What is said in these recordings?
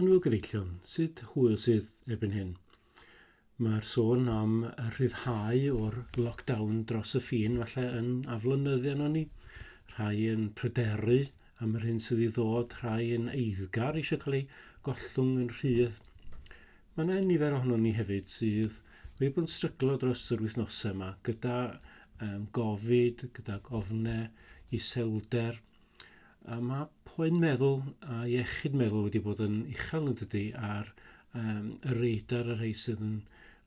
Yn fy gyfeillion, sut hwyl sydd erbyn hyn? Mae'r sôn am rhyddhau o'r lockdown dros y ffin falle yn aflonyddu arno ni. Rhai yn pryderu am yr hyn sydd i ddod, rhai yn eiddgar eisiau cael ei gollwng yn rhydd. Mae yna nifer ohono ni hefyd sydd wedi bod yn stryglo dros yr wythnosau yma gyda um, gofid, gyda gofnau, iselder, Yy ma' poen meddwl a iechyd meddwl wedi bod yn uchel yn dydi ar yym y radar y rhei sydd yn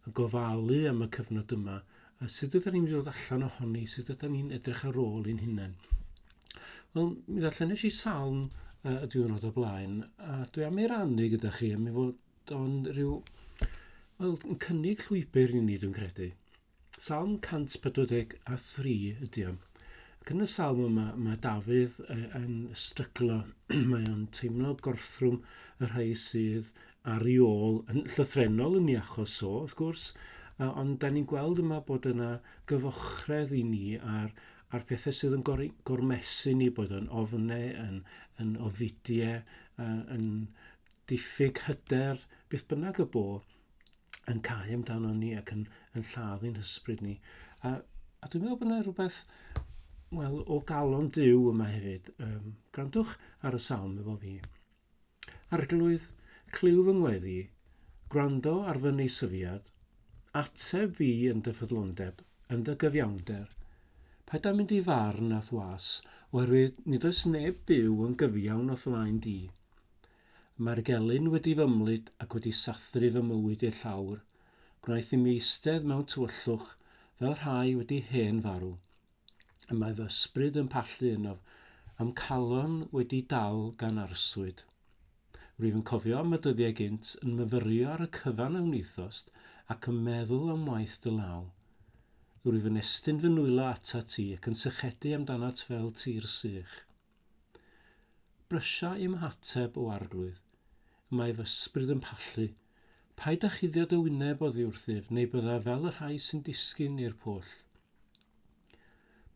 yn gofalu am y cyfnod yma a sud ydan ni'n mynd i ddod allan ohoni sut ydan ni'n edrych ar ôl i'n hunen. Wel mi ddarllen nesh i salm yy y diwrnod o blaen a dwi am ei rannu gyda chi a mi fod o'n rhyw wel yn cynnig llwybr i ni dwi'n credu. Salm 143 ydy o. Ac yn y salm yma, mae Dafydd yn stryglo, mae o'n teimlo gorthrwm y rhai sydd ar ei ôl, yn llythrenol yn ei achos o, wrth gwrs, ond da ni'n gweld yma bod yna gyfochredd i ni ar, ar pethau sydd yn gor gormesu ni, bod o'n ofnau, yn, yn ofidiau, yn diffyg hyder, beth bynnag y bo, yn cael amdano ni ac yn, yn lladd i'n hysbryd ni. A, a dwi'n meddwl bod yna rhywbeth, wel, o galon Dyw yma hefyd. Um, grandwch ar y salm efo fi. Arglwydd, clyw fy ngweddi, gwrando ar fy neisyfiad, ateb fi yn dy ffyddlondeb, yn dy gyfiawnder. Pa da mynd i farn a thwas, oherwydd nid oes neb byw yn gyfiawn o flaen di. Mae'r gelyn wedi fy mlyd ac wedi sathru fy mywyd i'r llawr. Gwnaeth i mi eistedd mewn tywyllwch fel rhai wedi hen farw. Y mae fy ysbryd yn pallu ynof, a'm calon wedi dal gan arswyd. Rwyf yn cofio am y dyddiau gynt, yn myfyrio ar y cyfan a wnithost, ac yn meddwl am waith dy law. Rwyf yn estyn fy nwylo atat ti ac yn sychedu amdanat fel tir sych. Brysia i'm hateb o arglwydd. Mae fy ysbryd yn pallu. Paid â chuddio dy wyneb oddi wrthyf, neu bydda fel y rhai sy'n disgyn i'r pwll.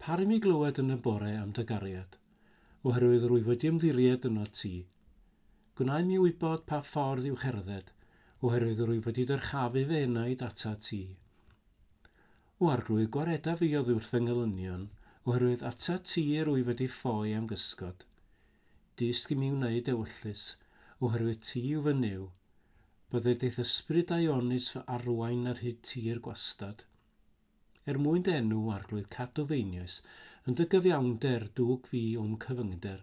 Par i mi glywed yn y bore am dy gariad, oherwydd rwyf wedi ymddiried yno ti. Gwnai mi wybod pa ffordd i'w cherdded, oherwydd rwyf wedi dyrchafu fy enaid atat ti. O arglwydd gwareda fi oddiwrth fy ngelynion, oherwydd atat ti yr wyf wedi ffoi am gysgod. Dysg i mi wneud ewyllys, oherwydd ti yw fy Nuw. Bydde dy ddysbryd a'i onys fy arwain ar hyd tir gwastad. Er mwyn dy enw, o arglwydd, cadw fy einioes, yn dy gyfiawnder, dwg fi o'm cyfyngder,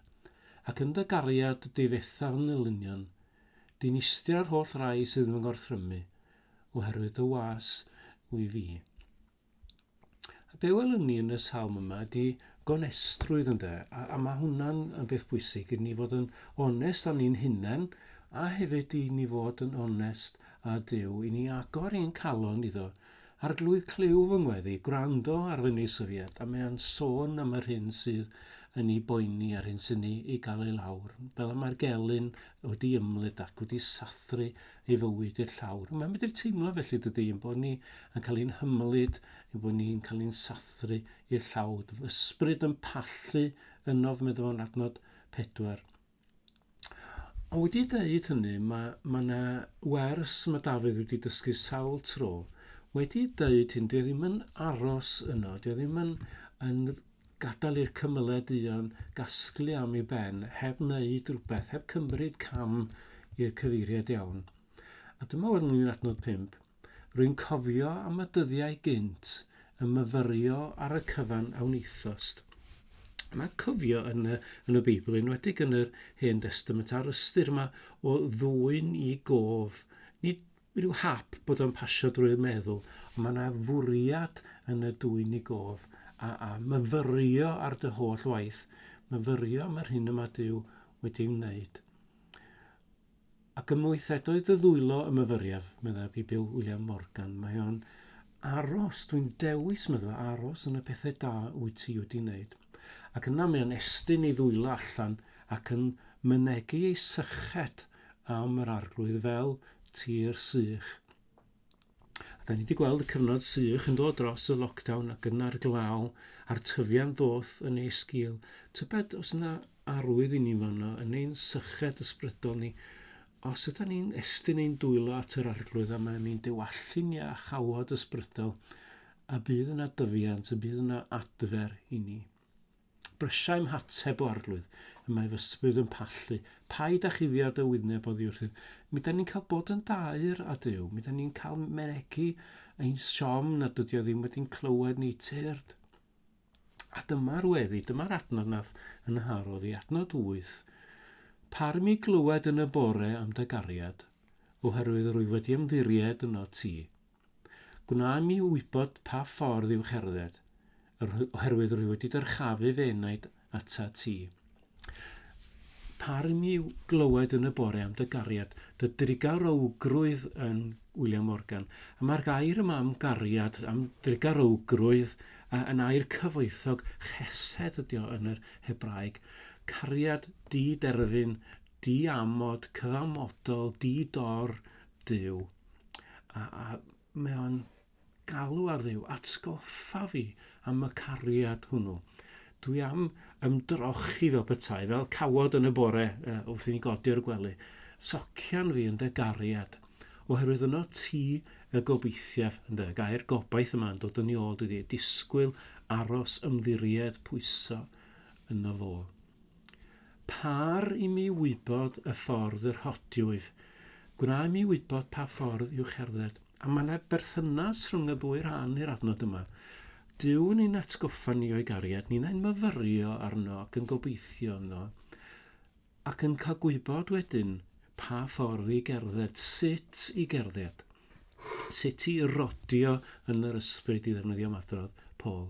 ac yn dy gariad, difetha fy ngelynion. Dinistria yr holl rai sydd yn fy ngorthrymu, oherwydd dy was wy fi. A be welwn ni yn y salm yma di gonestrwydd ynde, a, a mae hwnna'n yn beth bwysig i ni fod yn onest o'n ni'n hunain, a hefyd i ni fod yn onest a Dyw, i ni agor i'n calon iddo. Arglwydd clyw fy ngweddi, gwrando ar fy nisyfiad, a mae'n sôn am yr hyn sydd yn ei boeni a'r hyn sy'n ei, ei gael ei lawr. Fel y mae'r gelyn wedi ymlid ac wedi sathru ei fywyd i'r llawr. Mae'n medru teimlo felly dydy, yn bod ni yn cael ein hymlid, yn bod ni'n cael ein sathru i'r llawr. Ysbryd yn pallu ynof, meddwl fo'n adnod pedwar. Ond wedi dweud hynny, mae, mae yna wers mae Dafydd wedi dysgu sawl tro. Wedi dweud hyn, dwi e ddim yn aros yno, dwi e ddim yn, yn Gadael i'r cymylau duon gasglu am ei ben heb wneud rhywbeth, heb cymryd cam i'r cyfeiriad iawn. A dyma ŵan ni'n adnod pump. Rwy'n cofio am y dyddiau gynt, y myfyrio ar y cyfan a wnaethost. Mae cofio yn y, yn y Beibl, enwedig yn yr Hen Destament, a'r ystyr yma o ddwyn i gof, nid Mae rhyw hap bod o'n pasio drwy'r meddwl, ond mae yna fwriad yn y dwy nigodd, a, a myfyrio ar dy holl waith, myfyrio am yr hyn y mae Duw wedi ei wneud. Ac ymwythedoedd dy ddwylo y myfyriaf, meddai Bill William Morgan. Mae o'n aros, dwi'n dewis meddwl, aros yn y pethau da wyt ti wedi wneud. Ac yna mae o'n estyn ei ddwylo allan ac yn mynegu ei syched am yr Arglwydd fel tir sych. A da ni wedi gweld y cyfnod sych yn dod dros y lockdown ac yna'r glaw a'r tyfiant ddoth yn ei sgil. Tybed os yna arwydd i ni fanno yn ein syched ysbrydol ni, os yda ni'n estyn ein dwylo at yr Arglwydd a mae'n ein dewallu ni â chawod ysbrydol, a bydd yna dyfiant, y bydd yna adfer i ni. Brysiau 'm hateb o arglwydd, y mae fy sbryd yn pallu, Paid â chuddio dy wyneb oddi wrthyf. Mi 'da ni'n cael bod yn daer â Duw, mi 'da ni'n cael mynegi ein siom nad ydi o ddim wedi'n clywed ni, tyrd. A dyma'r weddi, dyma'r adnod nath yn harodd i, adnod wyth. Par mi glywed yn y bore am dy gariad, oherwydd rwy wedi ymddiried yno ti. Gwna i mi wybod pa ffordd i'w cherdded, oherwydd rwy wedi dyrchafu fy enaid atat ti. Par i mi glywed yn y bore am dy gariad, dy drugarowgrwydd yn William Morgan. A mae'r gair yma am gariad, am drugarowgrwydd, yn air cyfoethog chesed ydi o yn yr Hebraeg. Cariad di-derfyn, di-amod, cyfamodol, di-dor, Duw. a, a mae o'n galw ar ddew, atgoffa fi am y cariad hwnnw. Dwi am ymdrochi fel petai, fel cawod yn y bore uh, wrth i ni godi o'r gwely. Socian fi yn dy gariad, oherwydd yno ti y gobeithiaf yn dy gair gobaith yma'n dod yn ei ôl, dwi wedi disgwyl, aros, ymddiried, pwyso yno fo. Par i mi wybod y ffordd yr hotiwyf. Gwna i mi wybod pa ffordd i'w cherdded. A mae yna berthynas rhwng y ddwy rhan i'r adnod yma. Dyw ni'n atgoffa ni o'i gariad, ni'n ein myfyrio arno ac yn gobeithio yno, ac yn cael gwybod wedyn pa ffordd i gerdded, sut i gerdded, sut i rodio yn yr ysbryd i ddefnyddio madrodd Paul.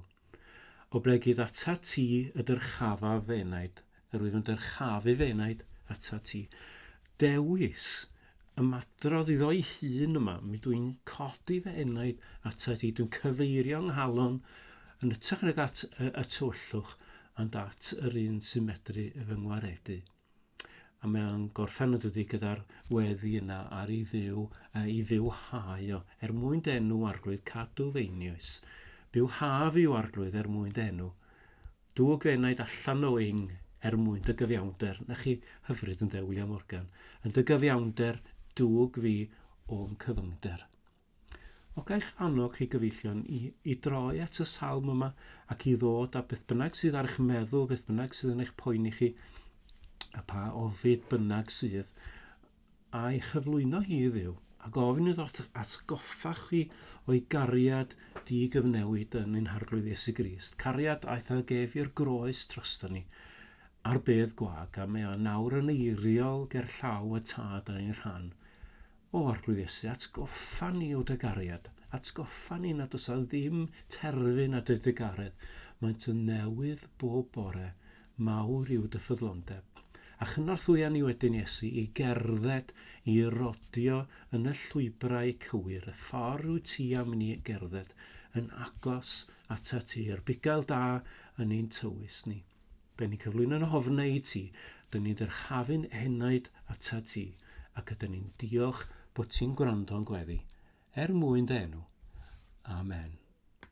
Oblegid atat ti y dyrchafaf fy enaid, yr wyf yn dyrchafu fy enaid atat ti. Dewis ymadrodd iddo'i hun yma, mi dw i'n codi fy enaid atat ti, dwi'n cyfeirio nghalon yn ytrach nag at y, y tywyllwch, ond at yr un sy'n medru fy ngwaredu. a mae'n gorffen y dydy gyda'r weddi yna ar ei ddiw, uh, i ddiw hau o, er mwyn denw arglwydd cadw feinius. Byw haf i'w arglwydd er mwyn denw. Dw gwenaid allan o ing er mwyn dy gyfiawnder. Na chi hyfryd yn de, William Morgan. Yn dy gyfiawnder dwg fi o'm cyfyngder. O gai'ch annog chi gyfeillion i, i droi at y salm yma ac i ddod a beth bynnag sydd ar eich meddwl, beth bynnag sydd yn eich poeni chi, a pa ofid bynnag sydd, a'i chyflwyno hi i ddiw, a gofyn iddo atgoffa chi o'i gariad di gyfnewid yn ein harglwydd Iesu Grist, cariad aeth a gef i'r groes drosto ni, ar bedd gwag, a mae o nawr yn eiriol ger llaw y tad a'n rhan. O Arglwydd Iesu, atgoffa ni o dy gariad. Atgoffa ni nad oes ddim terfyn at dy digaredd. Maent yn newydd bob bore. Mawr yw dy ffyddlondeb. A chynorthwya ni wedyn, Iesu, i gerdded, i rodio yn y llwybrau cywir, y ffordd wyt ti am ni gerdded, yn agos atat ti, a'r bugail da yn ein tywys ni. Dyn ni'n cyflwyno yn ofnau i ti, dyn ni'n ddyrchafu'n enaid atat ti, ac ydyn ni'n diolch bod ti'n gwrando'n gweddi, er mwyn dy enw. Amen.